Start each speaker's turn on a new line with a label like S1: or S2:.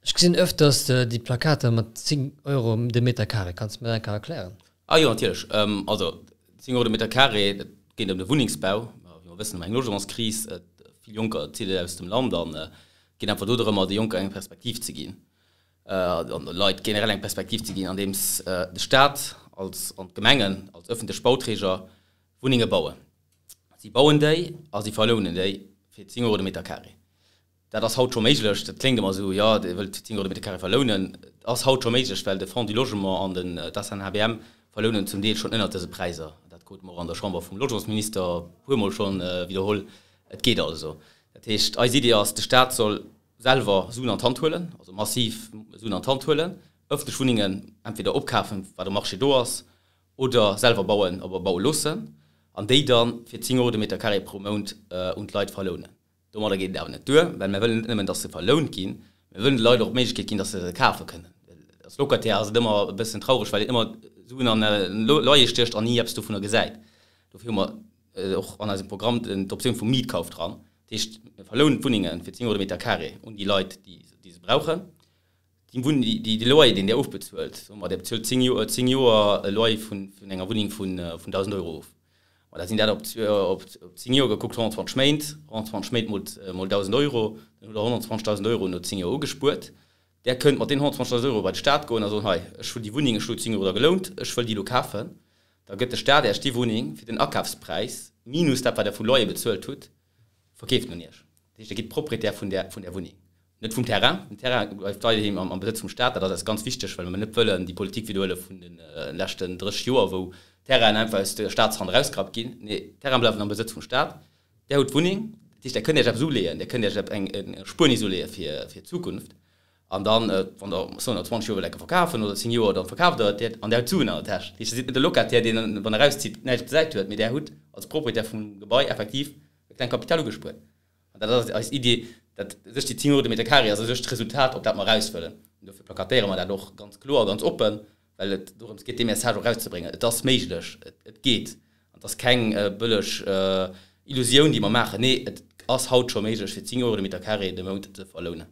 S1: Ech gesinn öfter dass de déi Plakater mat 10 Euro de Meter Carré. Kanns de mer dat eng Kéier erklären? Ah jo, natierlech.
S2: Also 10 Euro de Meter Carré, et geet ëm de Wunnengsbau. Wéi mer wëssen, hu mer eng Logementskris. Vill Jonker zidde aus dem Land an et geet einfach do drëmmer, de Jonker eng Perspektiv ze ginn, an de Leit generell eng Perspektiv ze ginn, andeems de Staat als an d'Gemengen als öffentlech Bauträger Wunnenge bauen. Si bauen déi a si verlounen déi fir 10 Euro de Meter Carré. Dat ass haut scho méiglech. Dat kléngt ëmmer esou, jo, Dir wëllt 10 Euro de Mètre carré verlounen. Et ass haut scho méiglech, well de Fonds du Logement an den, d'ASNHBM verlounen zum Deel schonn ënnert dëse Präiser. Dat krute mer och an der Chamber vum Logementsminister e puermol schonn widderholl. Et geet also. Dat heescht, eis Iddi ass, de Stat soll selwer Suen an d'Hand huelen, also massiv Suen an d'Hand huelen, ëffentlech Wunnengen entweder opkafen, wat um Marché do ass, oder selwer bauen oder baue loossen an déi da fir 10 Euro de Mètre carré pro Mount un d'Leit verlounen. Domadder geet et awer net duer, well mir wëllen net nëmmen, dass se verlount ginn, mir wëllen de Leit och d'Méiglechkeet ginn, dass se se kafe kënnen. Well als Locataire ass et ëmmer e bëssen traureg, well een ëmmer Suen an Loyer stiecht an ni eppes dovunner gesäit. Dofir hu mer och an eisem Programm d'Optioun vum Mietkauf dran. Dat heescht, mir verlounen d'Wunnenge fir 10 Euro de Meter carré un déi Leit, déi se brauchen. Dee Wunn, dee, dee Loyer, deen Dir ofbezuelt, soe mer, Dir bezuelt zéng Joer, zéng Joer e Loyer vun, vun enger Wunneng vun, vun 1.000 Euro of. Ma da sinn dat op, op, op zéng Joer gekuckt 120 Méint, 120 Méint mol, mol 1.000 Euro, dann hutt Der 120.000 Euro no zéng Joer ugespuert. Der kënnt mat deenen 120.000 Euro bei de Staat goen a soen, Hei, ech hunn déi Wunneng, ech elo zéng Euro der gelount, ech wëll déi elo kafen. Da gëtt de Staat Iech déi Wunneng fir den Akafspräis, minus dat wat Der vu Loyer bezuelt hutt, Verkeeft un Iech. Dat heescht, Dir gitt Proprietär vun där Wunneng, net vum Terrain. Den Terrain bleift weiderhi am Besëtz vum Staat. Dat ass eis ganz wichteg, well mer net wëllen déi Politik widderhuele vun de leschten 30 Joer, wou Terrainen einfach aus der Staatshand erausgerappt ginn. Nee, d'Terrainen bleiwen am Besëtz vum Staat. Där hutt d'Wunneng. Dat heescht, Där kënnt Iech eppes uleeën. Där kënnt Iech eng Erspuernis uleeë fir d'Zukunft. An dann, wann Der, soen der, 20 Joer wëllt ecken verkafen, oder 10 Joer, dann verkaaft Der et an Der hutt d'Suen an der Täsch. Dat heescht, Der sidd net de Locataire, deen, wann e erauszitt, näischt gesäit huet, mee Der hutt als Proprietär vum Gebai effektiv e klengt Kapital ugespuert. An dat ass eis Iddi, dat u sech déi 10 Euro de Meter carré ass u sech d'Resultat, op dat mer eraus wëllen. An dofir plakatéiere mer dat och ganz kloer a ganz oppen, well et dorëms geet, dee Message och erauszebréngen, et ass méiglech, et geet. An et ass keng bëlleg Illusioun, déi mer maachen. Nee, et ass haut scho méiglech, fir 10 Euro de Meter carré de Mount ze verlounen.